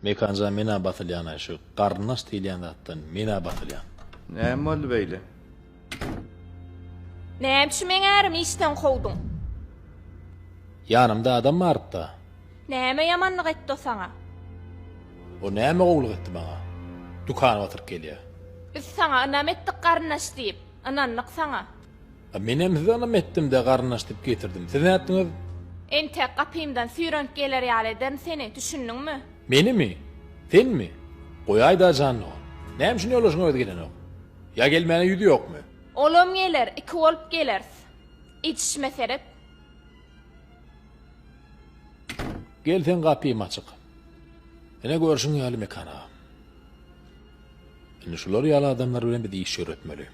Mekanja menä basylýanaý şu garyndaş diýilýän zatdan menä basylýan. Näme boldy beýle? Näme üçin meň ärimi işden kowduň? Ýanymda adam barypda. Näme ýamanlyk etdi o saňa? O näme gowulyk etdi maňa? Dükana batyryp gelýä. Biz saňa ynam etdik garyndaş diýip, ynandyk saňa. Menem size ynam etdim-de garyndaş diýip getirdim. Siz nätdiňiz? Entek gapymdan süýrenip geler ýaly ederin seni, düşündiňmi? Menimi? Senmi? Goýaý-da jan dogan. Näme üçin ýoldaşyň özi gelenok? Ýa gelmäne ýüzi ýokmy? Olam geler, iki bolup geleris. Edişime seret. Gelseň gapym açyk. Ine görşüň ýaly Mekan aga. Indi şular ýaly adamlar bilen biz iş ýöretmeli.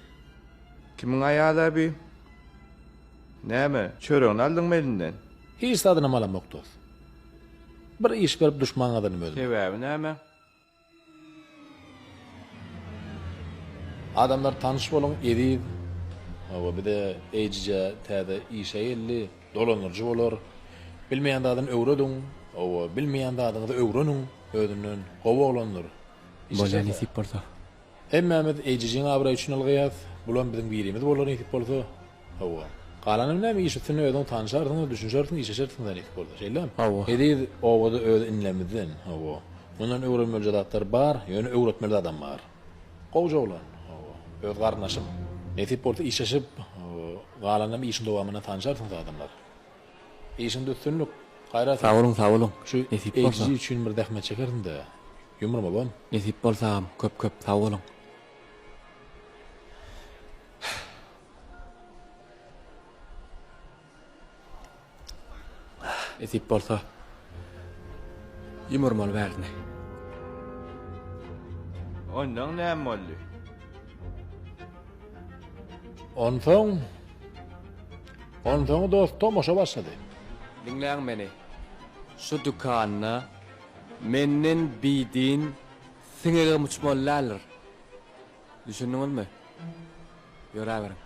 Kimiň aýala bi? Näme, çöregini aldyňmy elinden? Hiç zadynam alamok dos. Bir iş berip duşman gazanym özüme. Sebäbi näme? Adamlar tanyş boluň Eziz. Hawa bize eýjije täze işe geldi. Dolandyryjy bolar. Bilmeýän zadyny öwrediň. Hawa bilmeýän zadyňyzy öwreniň. Özünden gowy oglandyr. Bolýa nesip bolsa. Hemmämiz Eýjijiň abraýy üçin ylgaýas, bulam biziň birimiz bolar nesip bolsa. Hawa. Galanyny näme iş üstünde özüň tanyşarsyňyz, düşünşersiň, işleşersiňiz-ä nesip bolsa. Şeýlemi? Hawa. Eziz obada öz inlemizden. Hawa. Mundan öwrenmelije zatlar bar, ýöne öwretmeli zadam bar. Gowja oglan. Hawa. Öz garyndaşym. Nesip bolsa işleşip, galanynam işiň dowamynda tanyşarsyňyz adamlar. Işiňde üstünlik, gaýrat et. Sag boluň sag boluň, Şu nesip bolsa. HG üçin bir zähmet çekersiňdä, ýumrum obam. Nesip bolsam, köp köp sag boluň. Nesip bolsa, ýumrum ol bärini. Ondan näme boldy? Onsoň. Onsoň dost tomaşa başlady. Diňläň meni. Şu dükanda menden bidin siňegem uçmaly däldir. Düşündiňizmi? Ýöräberiň.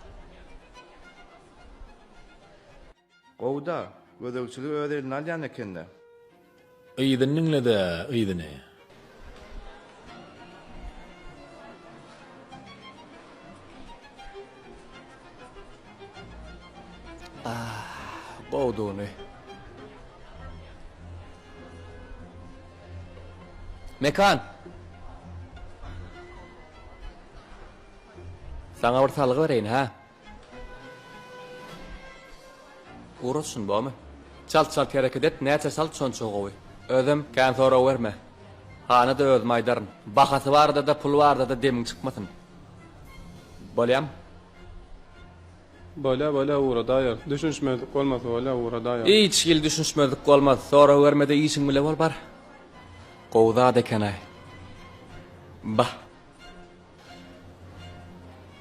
Gowy-da, gözegçiligi öz eline alýan eken-dä. Yzyny diňledä, yzyny. Gowdugyny. Mekan! Saňa bir salgy bereýin, hä? Oraz şun bomy. Çalt çalt hereket et näçe çalt şonça gowy. Özem kän sorawerme. Hanyda özüm aýdaryn. Bahasy bardada pul bardada demiň çykmasyn. Bolýamy. Bolýa bolýa ugra daýar. Düşünişmezlik bolmasa bolýa ugra daýar. Hiç hili düşünişmezlik bolmaz sorawermede işiň bile bol bar. Gowy zat ekenaý. Bah.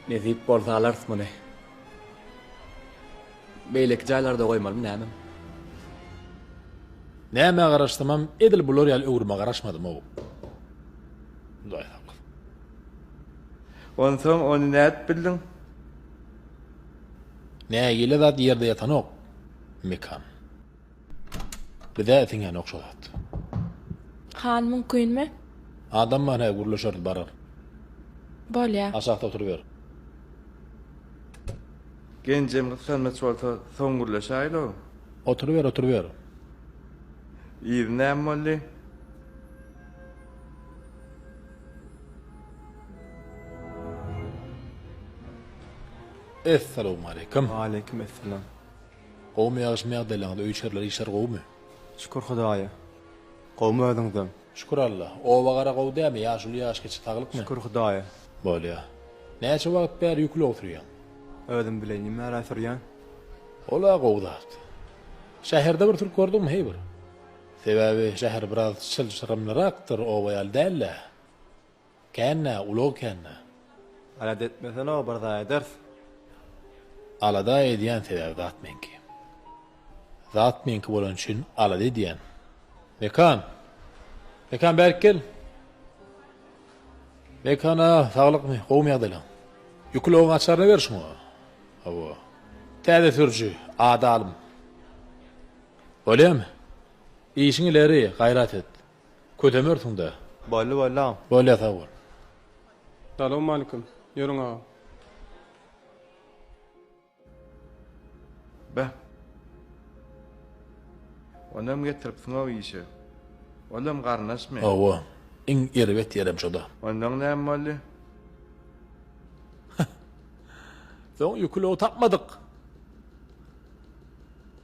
Nesip bolsa alarys muny. Beýleki jaýlarda goýmalymy nämem. Nämä garaşsamam edil bular ýaly öwrüme garaşmadym-ow. Hudaýsag. Onsoň ony nädip bildiň? Nägile zat ýerde ýatanok. Mekan. Bizä siňenok şo zat. Han mümkinmi? Adam bar hä gürleşeris barar. Bolýa. Aşakda oturyber. Genjem gyssanmaç bolsa soň gürleşäýlo. Oturyber oturyber. Yzy näme boldy? Essalawmaleýkim. Waleýkim essalam. Gowmy ýagşymy ýagdaýlaryňyz öý içerler işler gowumy. Şükür hudaýa. Gowmy özüňizem. Şükür Alla. Oba gara gowy dämi ýaşuly ýaş kiçi saglykmy. Şükür hudaýa. Bolýa. Näçe wagt bäri ýükli oturýaň. Özüm bilen nimära sürýän. Ola gowy zat. Şäherde bir türk gördüňmi heý bir. Sebäbi şäher biraz çylşyrymlyrakdyr oba ýaly dälä. Känä, ulag känä. Alada etmesene-ow, bir zat ederis. Alada edýän sebäbi zat meňki. Zat meňki bolany üçin alada edýän. Mekan! Mekan bärik gel! Mekana saglykmy, gowumy ýagdaýlaň? Ýük ulagyň açaryny ber şuňa. Hawa. Täze sürüji, ady Alym. Bolýamy? Işiňi ileri, gaýrat et. Ködemörsiňdä. Boldy boldy agam. Bolýa sag bol. Salowmalikim. Ýörüň agam. Beh. Onam getiripsiňow işe. Olam garyndaşmy? Hawa. Iň erbet ýerem şoda. Ondan näme boldy? Soň ýükülow tapmadyk.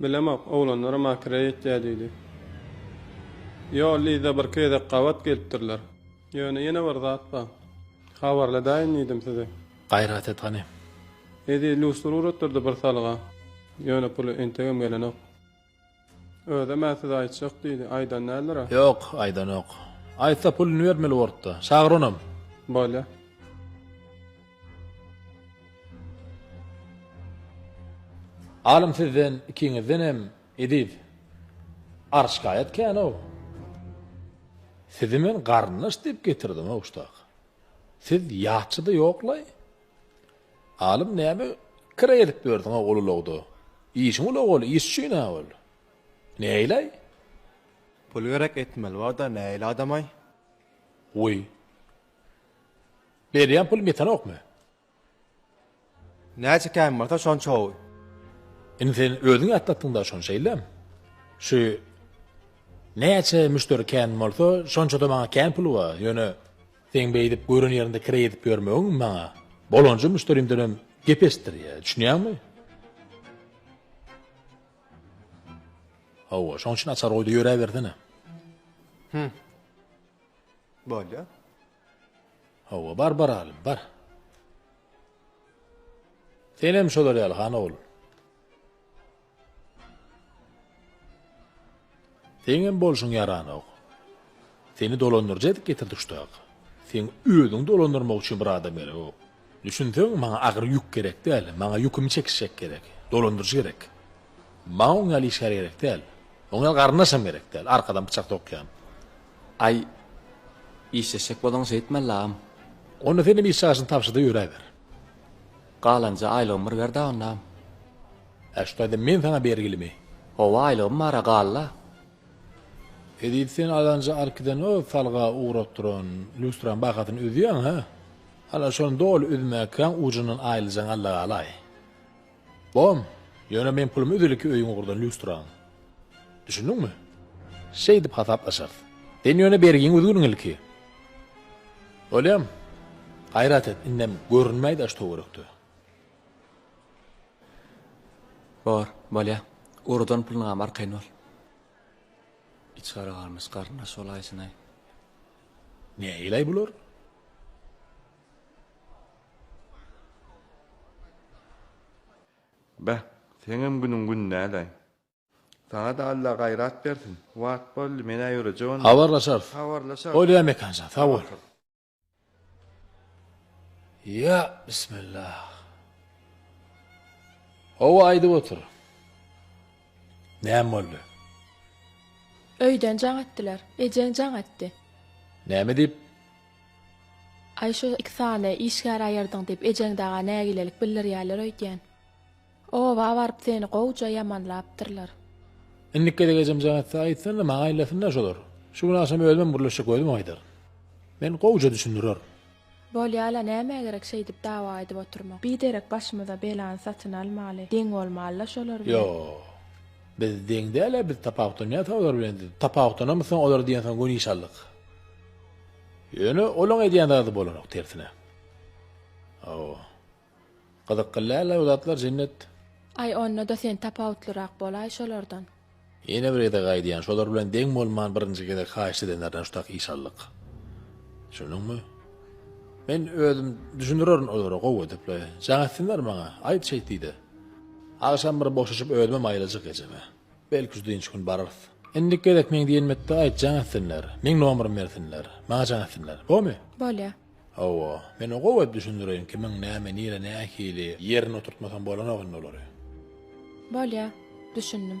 Bilemok, oglanlara makireý etýär diýdi. Ýo, Liza bir gezek gabat gelipdirler. Ýöne ýene bir zat bar. Habarladaýyn diýdim size. Gaýrat et gani. Edi lustra uratdyrdy bir salga. Ýöne puly entegem gelenok. Özem-ä size aýtjak diýdi. Aýdan däldir-ä? Ýok, aýdanok. Aýtsa puluny bermeli bolup-da. Çagyr onam. Bolýa. Alym sizden, ikiňizdenem. Eziz, ar şikaýat kän-ow. Sizi men garyndaş diýip getirdim-ow ştak. Siz ýatçy-da ýok-laý. Alym, näme kire edip ýörsiň-ow ol ulagda? Işiň ulag ol, iş üçin-ä ol. Näýlaý? Pul gerek, etmeli bar-da, näýli adam-aý? Goý. Berýän pulum ýetenokmy? Näçe kän bolsa şonça gowy. Indi sen özüň ýatlatdyňda şony şeýlem. Şu Näçe müşderi kän bolsa şonçada maňa kän pul ba, ýöne seň beýdip gören ýerinde kire edip ýörmegiň maňa bolanja müşderimdenem gep eşitdirýä, düşünýäňmi? Hawa, şoň üçin açar goýda ýöräbersene. Hümm. Bolýa. Hawa, bar baraly, bar. Senem şolar ýaly, han ogul. Seňem bolşuň ýaranok. Seni dolandyrjak edip getirdik şu taýa. Seň özüňi dolandyrmak üçin bir adam gerekok. Düşünseň, maňa agyr ýük gerek däl, maňa ýükümi çekişjek gerek, dolandyryjy gerek. Maňa oň ýaly işgär gerek däl. Oň ýaly garyndaşam gerek däl, arkadan pyçak sokýan. Aý, işleşjek bolsaň şeýtmeli, agam. Onda sen hem iş çagyşyny tabşy-da ýöräber. Galanja aýlygymy bir ber-dä onda. Hä, şu taýdan men saňa bergilimi? Hawa, aýlygym bar-a, gal-la. Edil sen Alanja Arkidenow salga ugratdyran lýustranyň bahasyny ödeýäň-hä? Ana şony doly üzmäkäň ujundan aýylajaň allagalaý. Bom, ýöne meň pulum üzüliki öýüň ugurdan lýustraň. Düşündiňmi? Şeýdip hasaplaşarys. Sen ýöne bergiňi üzgün ilki. Bolýam. Gaýrat et, indem görünmäý daş töwerekde. Bor, bolýa. Ugrudan puluňam arkaýyn bol. Içgara galmyş garyndaş bolaýsyn-aý. Nähili-aý bular? Beh, seňem günüň gün däl-aý. Saňa-da Alla gaýrat bersin. Wagt boldy, men-ä ýörejek onda. Habarlaşarys. Habarlaşarys. Bolýa Mekanjan, sag bol. Ýa, bismillah. Hawa, aýdyp otur. Näme boldy? Öýden jaň etdiler. Ejeň jaň etdi. Näme diýip? Aý, şo iki sany işgär aýyrdyň diýip, ejeň daga nägilelik bildirýärler öýdýän. Oba baryp seni gowja ýamanlapdyrlar. Indiki gezek ejem jaň etse, aýtsyn-da, maňa aýlasyn-da şolar. Şu gün agşam özümem gürleşjek özümem aýdaryn. Men gowja düşündirerin. Bolýa-la, nämä gerek şeýdip dawa edip oturmak? Biderek başymyza belany satyn almaly. Deň bolmaly-la şolar bilen. Ýok. Biz deň däl-ä, biz tapawutlanýas-a olar bilen diýip, tapawutlanamyzsoň olar diýensoň göni iş aldyk. Ýöne olaň edýän zady bolanok, tersine. Hawa. Gyzykly dälä bu zatlar Jennet. Aý onda-da sen tapawutlyrak bolaý şolardan. Ýene bir gezek aýdýan şolar bilen deň bolman birinji gezek haýyşt edenlerden şutak iş aldyk. Düşündiňmi? Men özüm düşündirerin olara gowy edipli. Jaň etsinler maňa. Aýt şeýt diýde. Agşam bir boşaşyp özümem aýlajak ejeme. Belki şu dynç gün bararys. Indiki gezek meň diýenmetde aýt jaň etsinler. Meň nomerymy bersinler. Maňa jaň etsinler. Bomy? Bolýa. Hawa, men-ä gowy düşündireýin, kimiň näme, nire, nähili ýerine oturtmasam bolanok indi olary. Bolýa, düşündim.